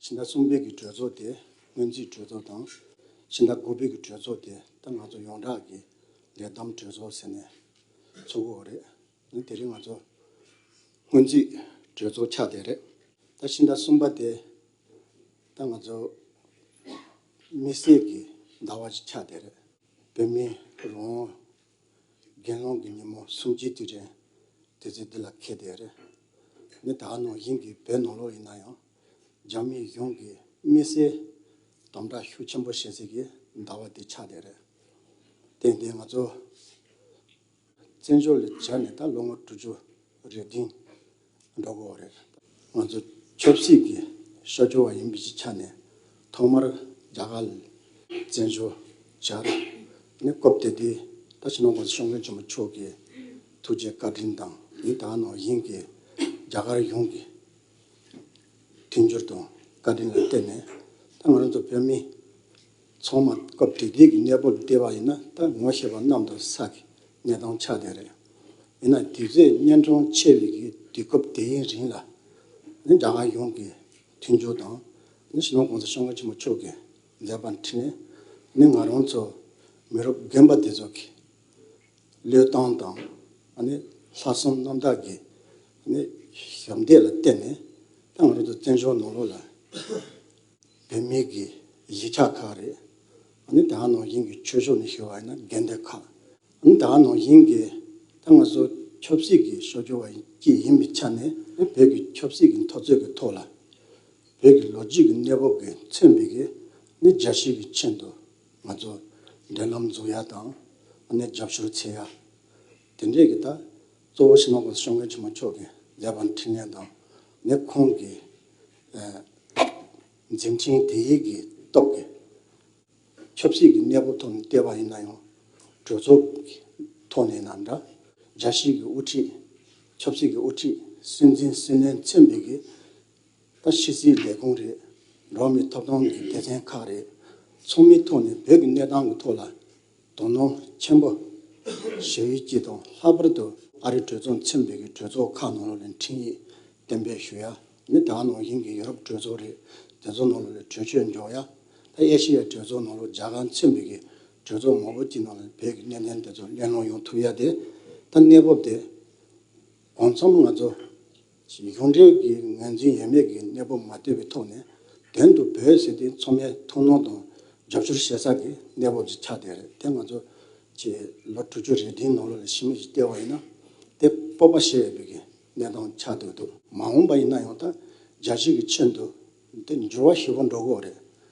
ཕྱི་ཟླ་གསུམ་པའི་གི་གྲོས་ཚོགས་དེ་སྔོན་རྩིས་གྲོས་ཚོགས་དང། ཕྱི་ཟླ་དགུ་པའི་གི་གྲོས་ཚོགས་དེ་ད་ང་ཚོ་ཡོངས་གྲགས་ཀྱི་ལས་བསྡོམས་གྲོས་ཚོགས་ཟེར་ནས་ཚུགས་འོག་རེད། ནི་དེ་རིང་ང་ཚོ་སྔོན་རྩིས་གྲོས་ཚོགས་ཆགས་བསྡད་རེད། ད་ཕྱི་ཟླ་གསུམ་པ་དེ་ད་ང་ཚོ་མི་སེར་གྱི་ཟླ་བ་ཆགས་བསྡད་རེད། བོད་མི་རང་དགེ་སློང་གི་ཉིན་མོ་སུམ་ཅུའི་དུས་དྲན་དུས་ཚོད་འདི་ལ་ཁེལ་བསྡད་རེད། མི་དག་ནང་བཞིན་གྱི་བོད་ནང་ལོགས་ཡིན་ན་ཡང། རྒྱ་མི་གཞུང་གིས་དམིགས་བསལ་དམ་དྲག་ཤུགས་ཆེན་པོ་བྱེད་སྲིད་ཀྱི་ཟླ་བ་འདི་ཆགས་བསྡད་རེད། དེ་འདི་ང་ཚོ་བཙན་བྱོལ་ལ་བྱས་ནས་ད་ལོ་ངོ་དྲུག་ཅུ་རེ་བདུན། འགྲོ་གི་འོག་རེད། ང་ཚོ་ཆབ་སྲིད་ཀྱི་ཤོ་རྒྱུ་བ་ཡིན་པའི་ཆ་ནས་ཐོག་མར་རྒྱ་གར་ལ་བཙན་བྱོལ་བྱ་ར་ནི་སྐོབ་དེ་དུས་ད་ཕྱི་ནང་གོང་ས་ཞང་བློན་ཆེན་པོ་མཆོག་གི་ཐུགས་རྗེ་བཀའ་དྲིན་དང་ཡིན་ད་ནང་བཞིན་གྱི་རྒྱ་གར་ཡོངས་ཀྱི་མཐུན་འགྱུར་དང་བཀའ་དྲིན་ལ་བརྟེན་ནས་ད་ང་རང་ཚོ་བོད་མི། ཚོང་མ་སྐབས་དུས་དེབ་ཀྱི་གནས་སྤོར་བལྟས་པ་ཡིན་ན་ད་ངོ་ཤེས་པ་རྣམས་དང་ས་གི་གནས་སྟངས་ཆགས་བསྡད་རེད། ཡིན་ན་དུས་ཚོད་གཉན་འཕྲང་ཆེ་བའི་གི་དུས་སྐབས་དེ་ཡིན་རིང་ལ། ནི་རྒྱ་གར་ཡོངས་ཀྱི་མཐུན་འགྱུར་དང། ནི་ཞི་ལོང་གོང་ས་ཤོང་ཀ་ཆེན་པོ་མཆོག་གིས་མཛད་པ་འཁྲིད་ནས་ནི་ང་རང་ཚོ་མི་རབས་རྒན་པ་དེ་ཚོ་གི་བློས་བཏང་དང། ནི་ལྷག་བསམ་རྣམ་དག་གི་ནི་ཞབས་འདེགས་ལ་བརྟེན་ནས་ད་ང་རང་ཚོ་བཙན་བྱོལ་ནང་ལོགས་ལ། བུད་མེད་ཀྱི་གཞིས་ཆགས་ཁག་རེད། ནི་དེའང་ནང་བཞིན་གྱི་ཆོས་ཕྱོགས་ནས་ཞུ་བ་ཡིན་ན་འགན་འདེད་ཁག། ནི་དེའང་ནང་བཞིན་གྱི་ཐ་སྔ་སོར་ཆོབ་སྲིད་ཀྱི་ཕྱོགས་སྦྱོར་བ་བཅས་ཡིན་པའི་ཆ་ནས་བོད་ཀྱི་ཆོབ་སྲིད་ཀྱི་མཐོ་ཚད་ཀྱི་ཐོག་ལ། བོད་ཀྱི་ལོ་རྒྱུས་ཀྱི་གནས་བབ་ཀྱི་མཚོན་བྱེད་ཀྱིས་ནི་རྒྱ་ཤེས་ཀྱི་ཆེད་དུ་ང་ཚོ་འབྲེལ་ལམ་འཛུགས་ཡ་དང། ནི་རྒྱབ་སྐྱོར་བྱེད་ཡ། དེ་འབྲེལ་གྱི་ད་གཙོ་བོ་ཕྱི་ནང་གོང་ས་སྲོང་བཙན་ཆེན་མོ་མཆོག་གིས་མཛད་པ་འཕྲིན་ལས་དང། ནི་ཁོང་གིས། འཛིན་ཅིང་དེ་ཡིད་ཀྱིས་རྟོགས་ཀྱི། ཆབ་སྲིད་ཀྱི་གནས་བབ་ཐོག་ནས་བལྟས་པ་ཡིན་ན་ཡང། གྲོས་ཚོགས་ཀྱི་ཐོག་ནས་ན་འདྲ། རྒྱལ་སྲིད་ཀྱི་དབུ་ཁྲིད། ཆབ་སྲིད་ཀྱི་དབུ་ཁྲིད་སྲིད་འཛིན་སྲིད་བློན་ཚན་རིག་གི། ད་ཕྱི་སྲིད་ལས་ཁུངས་རེད། འགྲོ་བ་མིའི་ཐོབ་ཐང་གི་སྡེ་ཚན་ཁག་རེད། ཚོགས་མིའི་ཐོག་ནས་བོད་ཀྱི་གནས་སྟངས་ཀྱི་ཐོག་ལ་དོ་སྣང་ཆེན་པོ་བྱ་ཡུལ་གྱི་དང་ལྷག་པར་དུ་ཨ་རི་གྲོས་ཚོགས་ཚན་པའི་གྲོས་ཚོགས་ཁག་ནང་ལོ་ལོན་འཕྲིན་ཡིག་གཏན་འབེབས་ཞུ་ཡ། མི་དྲག་ནང་བཞིན་གྱི་ཡུ་རོབ་གྲོས་ཚོགས་རེད་དེ་ཚོ་ནང་ལོ་ལོན་གྲོས་ཆོད་འཇོག་ཡ། ཨེ་ཤི་ཡའི་གྲོས་ཚོགས་ནང་ལོ་རྒྱ་གར་ཚན་པའི་གྲོས་ཚོགས་མང་པོ་གྱི་ནང་ལོ་བོད་ཀྱི་གནད་དོན་དེ་ཚོ་གླེང་སློང་ཡོང་ཐུབ་ཡ་དེ་ད་གནས་བབ་དེ་གང་འཚམ་ང་ཚོ་གཞུང་འབྲེལ་གྱི་ངོས་འཛིན་ཡོད་མེད་ཀྱི་གནས་བབ་མ་བལྟོས་པའི་ཐོག་ནས་དོན་དུ་བོད་ཟེར་དེ་མཚོ་སྔའི་ཐུང་ནོར་དང་རྒྱབ་སྐྱོར་བྱེད་ས་ཀྱི་གནས་བབ་ཅིག་ཆགས་བསྡད་རེད་དེ་ང་ཚོ་ཆེས་ལོ་དྲུག་ཅུ་རེ་བདུན་ནང་ལོ་ལ་ཕྱི་མོ་ཞིག་བལྟས་བ་ཡིན་ན་དེ་སྤོབས་པ་ཞེས་པའི་གནས་སྟངས་ཆགས་བསྡད་འདུག་མ་འོངས་པ་ཡིན་ན་ཡང་དང་རྒྱ་ཆེ་གི་ཆེད་དུ་དེ་འགྱུར་བ་ཞིག་འགྲོ་དགོས་རེད།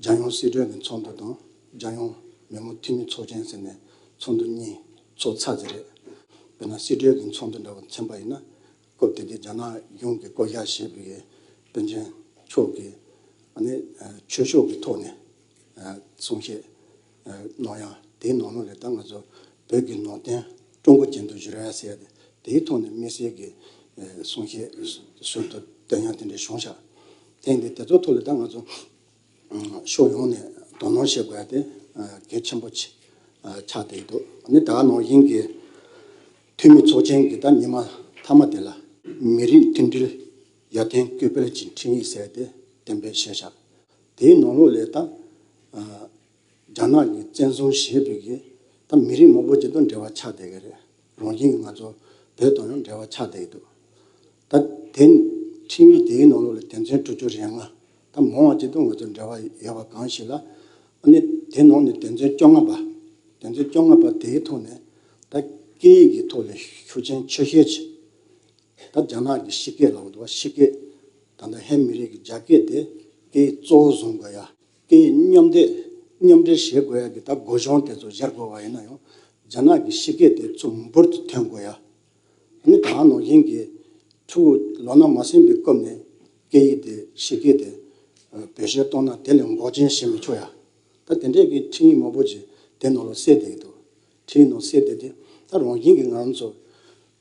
རྒྱལ་ཡོངས་སྲིད་གྲོས་ནས་ཚོགས་འདུ་དང་རྒྱལ་ཡོངས་མི་དམངས་འཐུས་མི་ཚོགས་ཆེན་ཟེར་ནས་ཚོགས་འདུ་གཉིས་ཚོགས་ཚར་རྗེས་རེད། དཔེར་ན་སྲིད་གྲོས་ཀྱི་ཚོགས་འདུ་འདྲ་བ་ཚན་པ་ཡིན་ན་སྐབས་དེ་དུས་རྒྱ་ནག་གཞུང་གིས་བསྐོ་གཞག་བྱས་པའི་དཔོན་ཆེན་མཆོག་གིས་ནི་ཆོས་ཕྱོགས་ཀྱི་ཐོག་ནས་གསུང་བཤད། ནོར་ཡང་དེའི་ནོར་ལོངས་རེད་ད་ང་ཚོ་བོད་ཀྱི་ནོར་བསྟན་ཀྲུང་གོ་ཅན་དུ་བཞུར་ཡ་ཟེར་ཏེ་དེའི་ཐོག་ནས་དམིགས་བསལ་གྱི་གསུང་བཤད་ཟུར་དུ་བཏོན་ཡང་དེ་འདྲའི་གཞུང་ཞབས་ཐེངས་འདི་དེ་ཚོ་ཐོག་ལ་ད་ང་ཚོ་ཕྱོགས་ཡོངས་ནས་དོ་སྣང་བྱེད་དགོས་ཡ་དེ་གལ་ཆེན་པོ་ཆགས་བསྡད་ཡོད་འདུག་ནི་ད་ནོར་དབྱིན་གྱི་འཐུས་མི་ཚོགས་ཆེན་གྱི་ད་ཉི་མ་མཐའ་མ་དེ་ལ། མི་རིགས་མཐུན་སྒྲིལ་ཡར་ཐོན་སྐུལ་སྤེལ་གྱི་འཕྲིན་ཡིག་ཟེར་ཏེ་གཏན་འབེབས་བྱས་ཤག་དེའི་ནང་ལོགས་ལས་ད་རྒྱ་ནག་གི་བཙན་བཟུང་བྱེད་ཕོད་ཀྱི་ད་མི་རིགས་མང་པོ་ཅིག་དང་འབྲེལ་བ་ཆགས་བསྡད་ཀྱི་རེད་རང་བཞིན་གྱི་ང་ཚོ་བོད་དང་ཡང་འབྲེལ་བ་ཆགས་བསྡད་ཀྱི་འདུག་ད་དེ་འཕྲིན་ཡིག་དེའི་ནང་ལོགས་ལས་དོན་ཚན་དྲུག་ཅུ་རེ་ལྔ་ད་མང་བ་ཅིག་དང་ང་ཚོ་འབྲེལ་བ་ཡོད་པ་གང་ཞིག་ལ་ཨ་ནི་དེ་ནང་ནས་དོན་ཚན་བཅོ་ལྔ་པ་དོན་ཚན་བཅོ་ལྔ་པ་དེའི་ཐོག་ནས་ད་སྐད་ཡིག་གི་ཐོག་ལས་ཤུགས་ཆེན་ཆོས་ཤེས་ཆེ་ད་རྒྱ་ནག་གི་ཤི་སྐད་ལ་འོ་དོ་བ་ཤི་སྐད། ད་ལྟ་ཧན་མི་རིགས་ཀྱི་རྒྱ་སྐད་དེ་དེའི་གཙོ་བོ་བཟུང་དགོས་ཡ། དེ་མཉམ་འདེགས་མཉམ་འབྲེལ་བྱེད་དགོས་ཡ་གི་ད་སྒོ་གཞོང་དེ་ཚོ་གཞར་དགོས་པ་ཡིན་ན་ཡང་རྒྱ་ནག་གི་ཕྱི་སྐད་དེ་ཚོ་འབུར་དུ་ཐོན་དགོས་ཡ། ནི་ད་ནོར་གཞིན་གྱི་ཕྲུ་གུ་ལོ་ན་མ་སིན་པའི་སྐབས་ནས་སྐད་ཡིག་དེ་ཕྱི་སྐད་དེ་བེད་སྤྱོད་གཏོང་ན་དེ་ལས་འགོག་རྐྱེན་བྱེད་མི་ཆོག་ཡ། ད་དེ་འདྲས་ཀྱི་འཕྲིན་ཡིག་མང་པོ་ཅིག་དེ་ནང་ལ་གསལ་བསྡད་ཀྱི་འདུག་དེའི་ནང་གསེས་དེ་དེ་ད་རང་བཞིན་གྱི་ང་རང་ཚོ་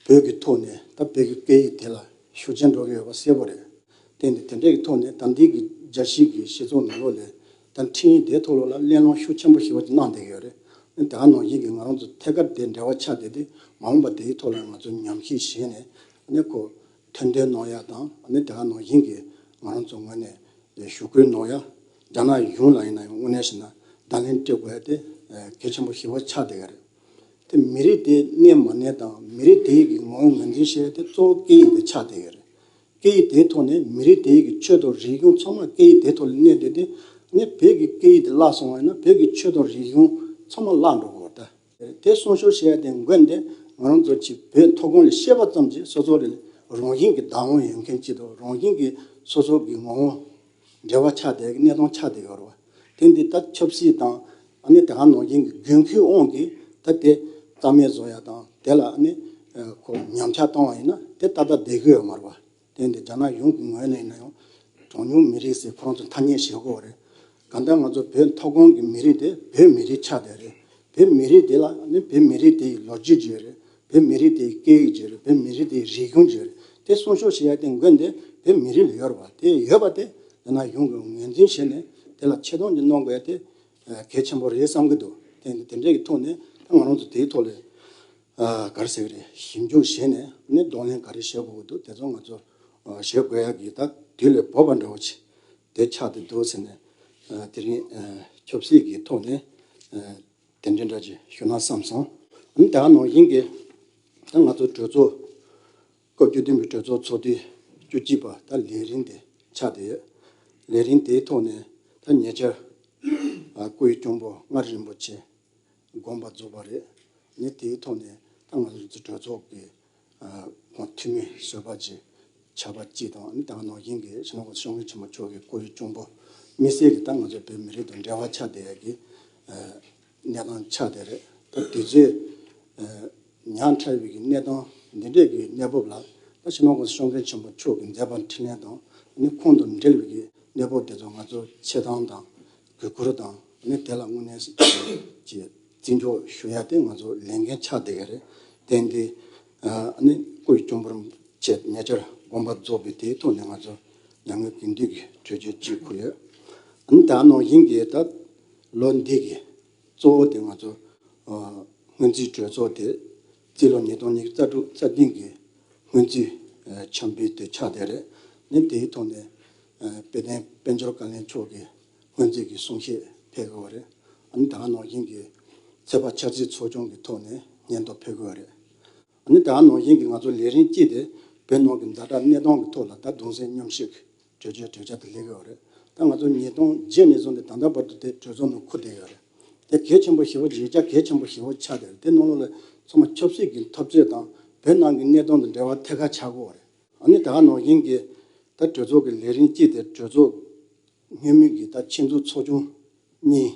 བོད་ཀྱི་ཐོག་ནས་ད་བོད་ཀྱི་སྐད་ཡིག་དེ་ལ་ཤུགས་ཆེན་འགྲོ་གི་ཡོད་པ་གསལ་པོ་རེད། དེ་ནི་དེ་འདྲའི་གི་ཐོག་ནས་ད་འདིའི་གི་རྒྱ་གཞིས་གི་ཞེ་ཚོགས་ནང་ལོགས་ལས་ད་འཕྲིན་ཡིག་དེའི་ཐོག་ལོགས་ལ་གླེང་སློང་ཤུགས་ཆེན་པོ་ཞིག་བ་ཅིག་གནང་བསྡད་གི་ཡོད་རེད། དེ་ད་རང་བཞིན་གྱི་ང་རང་ཚོ་ཐད་ཀར་དེ་འབྲེལ་བ་ཆགས་བསྡད་དེ་མ་འོངས་པ་དེའི་ཐོག་ལ་ང་ཚོ་ཉམས་ཞིབ་བྱས་ནས་ནས་གོ་ཐོན་འདོན་གནང་ཡ་དང་དེ་ད་རང་བཞིན་གྱི་ང་རང་ཚོ་ངོས་ནས་ཞུ་སྐུལ་གནང་ཡ། རྒྱ་ནག་གཞུང་ལ་ཡིན་ན་ཡང་དངོས་གནས་བྱས་ན་བརྡ་ལན་སྤྲད་དགོས་དེ་གལ་ཆེན་པོ་ཞེ་བོ་ཆགས་བསྡད་ཡོད་རེད། དེ་མི་རིགས་དེའི་གནས་མ་གནས་དང་མི་རིགས་དེའི་ཡིག་གི་ངོ་བོ་ངོས་འཛིན་བྱེད་ཡུལ་དེ་གཙོ་བོ་སྐད་ཡིག་དེ་ཆགས་བསྡད་ཡོད་རེད། སྐད་ཡིག་དེའི་ཐོག་ནས་མི་རིགས་དེའི་ཡིག་གི་ཆོས་དང་རིག་གཞུང་ཚང་མ་སྐད་ཡིག་དེའི་ཐོག་ལ་གནས་བསྡད་དེ། ངས་བོད་ཀྱི་སྐད་ཡིག་དེ་བརླག་སོང་བ་ཡིན་ན་བོད་ཀྱི་ཆོས་དང་རིག་གཞུང་ཚང་མ་བརླག་འགྲོ་དགོས་པ་ལྟ། དེ་གསུང་ཤོར་བྱས་ཏེ་མགོན་དེ་ང་རང་ཚོ་གཅིག་བོད་མཐོ་སྒང་ལ་ཤེས་པ་ཙམ་གྱིས་སོ་སོ་ལས་རང་བཞིན་གྱི་བདག་དབང་ཡོད་མཁན་གཅིག་དང་རང་བཞིན་གྱི་སོ་སོ་གི་ངོ་བོ་འབྲེལ་བ་ཆགས་ཏེ་གནས་སྟངས་ཆགས་ཏེ་ཡོད་རེད། དེ་འདི་ལྟར་ཆབ་སྲིད་དང་ནི་དེ་ག་ནང་བཞིན་གྱི་རྒྱུན་མཁས་དབང་གིས་ད་དེ་རྩ་མེད་བཟོ་ཡག་དང་དེ་ལ་ནི་ཉམས་ཆགས་བཏང་བ་ཡིན་ན་དེ་ད་ལྟ་བསྡད་ཀྱི་ཡོད་མ་རེད། དེ་འདི་རྒྱ་ནག་ཡོངས་ཀྱི་ངོས་ནས་ཡིན་ཡང། གྲངས་ཉུང་མི་རིགས་སའི་ཁོང་དུ་ཐ་སྙད་བྱེད་དགོས་པ་རེད། གང་ལྟར་ང་ཚོ་བོད་མཐོ་སྒང་གི་མི་རིགས་དེ་བོད་མི་རིགས་ཆགས་བསྡད་རེད། བོད་མི་རིགས་དེ་ལ་ནི་བོད་མི་རིགས་དེའི་ལོ་རྒྱུས་བརྗོད་རེད། བོད་མི་རིགས་དེའི་སྐད་ཡིག་བརྗོད་རེད་བོད་མི་རིགས་དེའི་རིག་གཞུང་བརྗོད་རེད། དེ་སྲུང་སྐྱོབ་བྱེད་ཡ་དེ་མགོན་དེ་བོད་མི་རིགས་ལ་ཡོད་རེད་བ། དེ་ཡོད་པ་དེ་རྒྱ་ནག་ཡོངས་ཀྱིས་ངོས་འཛིན་བྱས་ནས་དེ་ལ་ཆེ་མཐོང་གྱི་གནོང་དགོས་ཡ་དེ་གལ་ཆེན་པོ་རེད་བསམ་གྱི་འདུག་དེ་འདྲའི་གི་ཐོག་ནས་ད་ང་རང་ཚོ་དེའི་ཐོག་ལས་ག་རེ་ཟེར་གི་རེད་ཞིབ་འཇུག་བྱས་ནས་ནས་གདོང་ལེན་ག་རེ་བྱེད་དགོས་གི་འདུག་དེ་ཚོ་ང་ཚོ་བྱེད་དགོས་ཡག་གི་ད་དུས་ལས་བབ་པ་འདྲ་བོ་ཆེ་དེ་ཆགས་ཏེ་འདུག་ཟེར་ནས་དེ་རིང་ཆབ་སྲིད་གི་ཐོག་ནས་དེ་འདྲའི་འདྲ་ཅིག་ཞུ་ན་བསམ་སོང། འོན་ཏེ་ད་ནང་བཞིན་གྱི་ད་ང་ཚོ་གྲོས་ཚོགས་བཀོད་བསྒྱུར་བདུན་པའི་གྲོས་ཚོགས་ཚོགས་དུས་བཅུ་གཅིག་པ་ད་ལས་རིམ་དེ་ཆགས་བསྡད་ཡོད། ལས་རིམ་དེའི་ཐོག་ནས་ད་ཉེ་ཆར། སྐུའི་གཅུང་པོ་མངའ་རིས་རིན་པོ་ཆེ་དགོངས་པ་རྫོགས་པ་རེད། ངས་དེའི་ཐོག་ནས་ད་ང་ཚོའི་གྲོས་ཚོགས་ཀྱི་ཁོང་འཐུས་མི་གསོལ་པ་བཅས་བྱ་བ་གཅིག་དང་ནི་ད་ང་ནོར་གཞིན་གྱི་ཤང་ཀོང་ཤང་ཀུན་ཆེན་མོ་མཆོག་གི་སྐུའི་གཅུང་པོ་དམིགས་བསལ་གྱི་ད་ང་ཚོའི་བོད་མི་རིགས་དང་འབྲེལ་བ་ཆགས་བསྡད་ཡོད་ཀྱི། གནས་སྟངས་ཆགས་བསྡད་རེད་ད་དེ་རྗེས་ཉང་ཁྲའི་བོད་ཀྱི་གནས་སྟངས་འདི་འདྲས་ཀྱི་གནས་བབ་ལ་ད་ཕྱི་མ་ཁོང་ཤོང་མཁན་ཆེན་པོ་མཆོག་གི་མཛད་པ་འཕྲིན་ལན་དང་ནི་ཁོང་དང་འབྲེལ་བའི་གནས་བབ་དེ་ཚོ་ང་ཚོ་ཆེ་ཐང་དང་བོད་སྐོར་དང་ནི་དེ་ལ་དངོས་གནས་ཀྱི་བརྩི་འཇོག་ཞུ་ཡ་དེ་ང་ཚོ་ལས་འགན་ཆགས་བསྡད་ཀྱི་རེད་དེ་འདི་ནི་སྐུ་ཡི་གཅུང་པོར་བཅས་ཏེ་ཉེ་ཆར་དགོངས་པ་རྫོགས་པས་དེའི་ཐོག་ནས་ང་ཚོ་ཉམས་མྱོང་གི་འདུས་ཀྱི་གྲོས་ཆོད་ཅིག་ཁུར་ཡོད་ད་ནང་བཞིན་གྱི་ད་ལོ་འདི་གི་གཙོ་བོ་དེ་ང་ཚོ་སྔོན་རྩིས་གྲོས་ཚོགས་དེ་རྩིས་ལོ་ཉིས་སྟོང་ཉིས་རྩ་དྲུག་རྩ་ལྡིང་གི་སྔོན་རྩིས་འཆམ་འབུལ་དེ་ཆགས་བསྡད་རེད་ནས་དེའི་ཐོག་ནས་དཔལ་ལྡན་དཔལ་འབྱོར་བཀའ་བློན་མཆོག་གི་སྔོན་རྩིས་ཀྱི་གསུང་བཤད་ཕེབས་དགོས་བ་རེད་ཨཱ་ནི་ད་ང་ནོར་བཞིན་གྱི་ཚེ་དཔག་འཆར་རྩིས་ཚོགས་ཆུང་གི་ཐོག་ནས་སྙན་ཐོ་ཕེབས་དགོས་བ་རེད་ཨཱ་ནི་ད་ང་ནོར་བཞིན་གྱི་ང་ཚོ་ལས་རིན་སྐྱིད་དེ་བོད་ནང་གི་མཛའ་གྲགས་གནས་སྟངས་ཀྱི་ཐོག་ལ་ད་གདུང་སེམས་མཉམ་བསྐྱེད་གྲོས་ཆོད་གྲོས་འཆར་དེ་ལེགས་ཡོད་རེད་ད་ང་ཚོ་ཉིས་སྟོང་བརྒྱད་ནས་བཟུང་སྟེ་ད་ལྟ་བར་དུ་དེ་གྲོས་ཚོགས་ནང་འཁུར་བསྡད་ཡོད་རེད་དེ་གལ་ཆེན་པོ་ཞེ་བོ་བརྗེད་བྱ་གལ་ཆེན་པོ་ཞེ་བོ་ཆགས་བསྡད་རེད་དེ་ནང་ལོགས་ལས་ཚང་མ་ཆབ་སྲིད་ཀྱི་འཐབ་རྩོད་དང་བོད་ནང་གི་གནས་སྟངས་དང་འབྲེལ་བ་ཐད་ཀར་ཆགས་དགོས་རེད་ཨ་ནི་ད་ནང་བཞིན་གྱི་ད་གྲོས་ཚོགས་ཀྱི་ལས་རིམ་གཅིག་དེ་གྲོས་ཚོགས་ཉེས་མེད་ཀྱི་ད་ཆེད་འཛུགས་ཚོགས་ཆུང་གཉིས།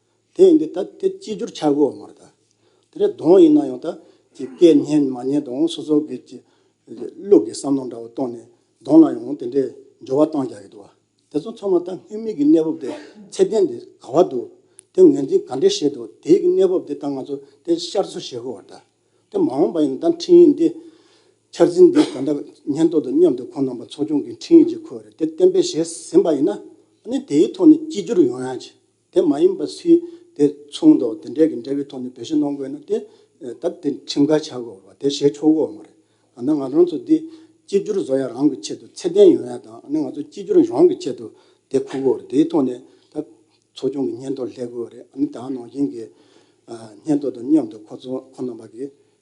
དེ་ཡིན་དུས་ད་དེ་ཅིས་བསྒྱུར་བྱ་དགོས་བ་མ་རེད་ད། དེ་ལས་ལྡོང་ཡིན་ན་ཡང་ད་ཀྱི་སྐད་སྙན་མ་སྙན་དང་སོ་སོ་སྒེར་གྱི་ལུགས་ཀྱི་བསམ་བློ་འདྲ་བ་བཏོན་ནས་ལྡོང་ལ་ཡང་དེ་འདྲའི་འགྱུར་བ་གཏང་རྒྱག་གི་འདུག་བ། དེ་ཚོ་ཚང་མ་ད་སྔོན་མིག་གི་གནས་བབ་དེ་ཚད་ལྡན་དེ་ག་བ་འདུག་དེ་ངོས་འཛིན་ག་འདྲས་བྱས་འདུག་དེའི་གནས་བབ་དེ་ད་ང་ཚོ་དེ་བཤར་ཚུལ་བྱེད་དགོས་བ་རེད་ད། དེ་མ་འོངས་པ་ཡིན་ན་ད་འཕྲིན་ཡིག་འདི་འཆར་ཟིན་འདི་ག་འདྲ་ཉེན་རྟོག་དང་མཉམ་དུ་ཁོང་རྣམ་པ་ཚོགས་ཆུང་གི་འཕྲིན་ཡིག་ཅིག་ཁོ་བ་རེད་དེ་གཏན་འབེབས་བྱས་ཟིན་པ་ཡིན་ན་ནི་དེའི་ཐོག་ནས་ཅིས་བསྒྱུར་ཡོང་ཡང་བྱེད། དེ་མ་ཡིན་པར་སུས་དེ་མཚུངས་དང་དེ་འདྲ་གི་འབྲེལ་བའི་ཐོག་ནས་བེད་སྤྱོད་གནང་དགོས་ན་དེ་ད་དེ་ཁྲིམས་འགལ་ཆགས་དགོས་པ་དེ་བྱེད་ཆོག་གོ་མ་རེད། ད་ནི་ང་རང་ཚོ་འདི་གཅིག་གྱུར་བཟོ་ཡ་རང་གི་ཆེད་དུ་ཚད་ལྡན་ཡོང་ཡ་དང་ནི་ང་ཚོ་གཅིག་གྱུར་རང་གི་ཆེད་དུ་དེ་ཁུར་དགོས་རེད་དེའི་ཐོག་ནས་ད་ཚོགས་ཆུང་གི་སྙན་ཐོ་ལྷད་དགོས་རེད་ནི་ད་ནང་བཞིན་གྱི་སྙན་ཐོ་དང་མཉམ་དུ་ཁོ་ཚོ་ཁོ་ན་པ་གི་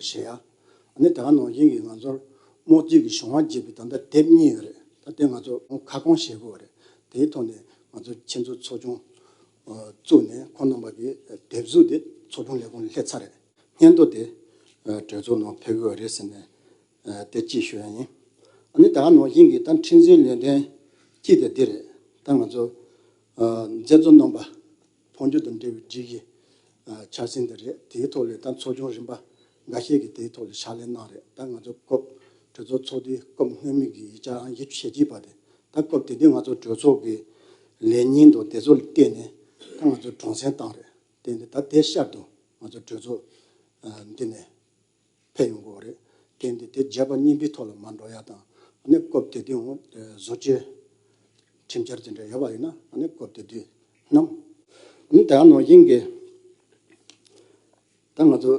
གཞན་ཡང། ནི་དེ་ག་ནང་བཞིན་གྱི་ང་ཚོར་རྨོག་རྩིས་ཀྱི་གཞུང་དབང་བརྗེས་པའི་དམ་བཅའ་དེབ་གཉིས་ཡོད་རེད། ད་དེ་ང་ཚོ་ཁ་སྐོང་བྱེད་དགོས་བ་རེད། དེའི་ཐོག་ནས་ང་ཚོ་ཁྱེད་ཚོ་ཚོགས་ཆུང་བཙུགས་ནས་ཁོང་རྣམ་པ་ཀྱི་དེབ་གཟུགས་དེ་ཚོགས་ཆུང་ལས་ཁུངས་ལ་སླེབས་ཚར་རེད། སྙན་ཐོ་དེ་གྲོས་ཚོགས་ནང་ཕེབས་དགོས་བ་རེད་ཟེར་ནས་དེ་གཅིག་ཞུ་ཡ་ཡིན། ནི་དེ་ག་ནང་བཞིན་གྱི་ད་འཕྲིན་བཟོའི་ལས་དོན་གཅིག་དེ་འདི་རེད། ད་ང་ཚོ་མཛད་གཙོ་རྣམ་པ། འཕོ་འགྱུར་དང་འབྲེལ་བའི་སྒྲིག་གཞི་འཆར་ཟིན་དེ་རེད། དེའི་ཐོག་ལས་དང་ཚོགས་ཆུང་རིམ་པ་འགའ་ཤས་ཀྱིས་དེའི་ཐོག་ལ་ཕྱག་ལས་གནང་རེད་ད་ང་ཚོ་སྐབས་གྲོས་ཚོགས་ཚོགས་དུས་སྐབས་སྔོན་མོ་གི་ཡིག་ཆ་ཨང་བཞི་ཞེ་གཅིག་པ་དེ་ད་སྐབས་དེ་དུས་ང་ཚོ་གྲོས་ཚོགས་ཀྱི་ལས་ཉིན་དང་དེ་ཚོ་ལ་བརྟེན་ནས་ད་ང་ཚོ་དྲང་བསྲན་བཏང་རེད་བརྟེན་ཏེ་ད་དེ་ཤར་དུ་ང་ཚོ་གྲོས་ཚོགས་འདི་ནས་ཕེབས་ཡོང་དགོས་པ་རེད། དེ་འདི་དེ་བརྗེད་པ་གཉིས་པའི་ཐོག་ལ་མ་འགྲོ་ཡ་དང། གནས་སྐབས་དེ་དུས་འོང་བཟོ་བཅོས། ཁྲིམས་འཆར་དེ་འདྲ་ཡོད་པ་ཡིན་ན་གནས་སྐབས་དེ་དུས་ནམ། ནི་དེའང་ནང་བཞིན་གྱི། ད་ང་ཚོ།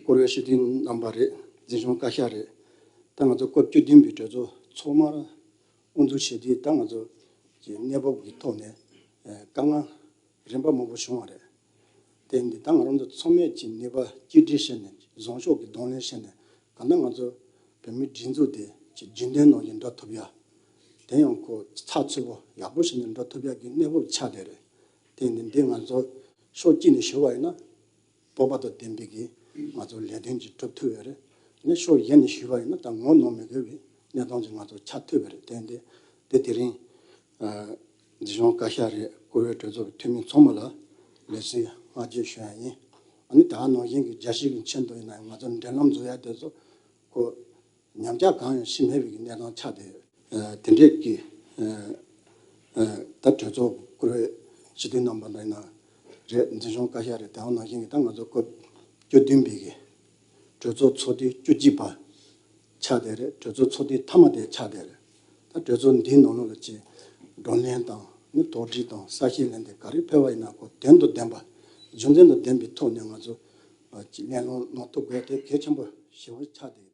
བསྐོར་བའི་ཞི་བདེའི་རྣམ་པ་རེད། འཛིན་སྐྱོང་བཀའ་ཤག་རེད། ད་ང་ཚོ་སྐབས་བཅུ་བདུན་པའི་གྲོས་ཚོགས་ཚོགས་མར། དབུ་འཛུགས་བྱས་དུས་ད་ང་ཚོ། གི་གནས་བབ་ཀྱི་ཐོག་ནས། དཀའ་ངལ། རིམ་པ་མང་པོ་བྱུང་བ་རེད། དེ་འདི་ལྟར་ང་རང་ཚོ་ཚང་མས་ཀྱི་ནུས་པ་གཅིག་སྒྲིལ་བྱས་ནས་བཟང་ཕྱོགས་ཀྱི་གདོང་ལེན་བྱས་ནས་ད་ལྟ་ང་ཚོ་བོད་མིའི་སྒྲིག་འཛུགས་དེ་ཀྱི་རྒྱུན་ལྡན་ནང་ཡང་འགྲོ་ཐུབ་ཡ། དེ་ཡང་གོ་ཚགས་ཚུད་པོ་ཡག་པོ་བྱས་ནས་འགྲོ་ཐུབ་ཡ་གི་གནས་བབ་ཆགས་བསྡད་རེད། དེ་འདི་འདི་ང་ཚོ་ཕྱོགས་གཅིག་ནས་ཞུ་བ་ཡིན་ན། སྤོབས་པ་དང་ལྡན་པས་ཀྱིས་ང་ཚོར་ལས་དོན་གྱི་གྲུབ་ཐུབ་པས་རེད། ཤོག་གཞན་ནས་ཞུས་པ་ཡིན་ན་ད་ངོ་གནོང་མི་དགོས་པའི་གནས་སྟངས་ཀྱིས་ང་ཚོར་ཆ་མཐུད་པ་རེད་བསྟན་ཏེ། དེ་དེ་རིང། འདི་གཞུང་བཀའ་ཤག་རེད་བསྐོ་བའི་གྲོས་ཚོགས་འཐུས་མི་མཚོ་མོ་ལ་ལས་སུས་སྔ་རྗེས་ཞུ་ཡ་ཡིན། ཨ་ནི་ད་ནང་བཞིན་གྱི་རྒྱ་ཞིག་གི་མཆན་འདོན་ཡིན་ན་ཡང་ང་ཚོར་འབྲེལ་ལམ་འཛུགས་ཡ་དེ་ཚོ་ཁོ། ཉམས་ཆག་གང་ཡང་ཤི་མེད་པའི་གནས་སྟངས་ཆགས་བསྡད་ཡོད། དེ་འབྲེལ་གྱི་ད་གྲོས་ཚོགས་བསྐོར་བའི་ཞི་བདེའི་རྣམ་པ་ལ་ཡིན་ན་རེད་འཛིན་སྐྱོང་བཀའ་ཤག་རེད་དེའང་ནང་བཞིན་གྱི་ད་ང་ཚོ་སྐབས་བཅུ་བདུན་པའི་གྲོས་ཚོགས་ཚོགས་དུས་བཅུ་གཅིག་པ་ཆགས་བསྡད་རེད་གྲོས་ཚོགས་ཚོགས་དུས་མཐའ་མ་དེ་ཆགས་བསྡད་རེད་ད་གྲོས་ཚོགས་འདིའི་ནང་ལོགས་ལ་ཆེད་བགྲོ་གླེང་དང་ནི་དོགས་འདྲི་དང་ས་ཞིང་ལེན་དེ་ག་རེ་ཕེར་བ་ཡིན་ན་གོ་དོན་དང་ལྡན་པ་རྒྱུ་མཚན་དང་ལྡན་པའི་ཐོག་ནས་ང་ཚོ་གླེང་སློང་གནང་ཐུབ་དགོས་དེ་གལ་ཆེན་པོ་ཞེ་བོ་ཆགས་བསྡད་ཡོད།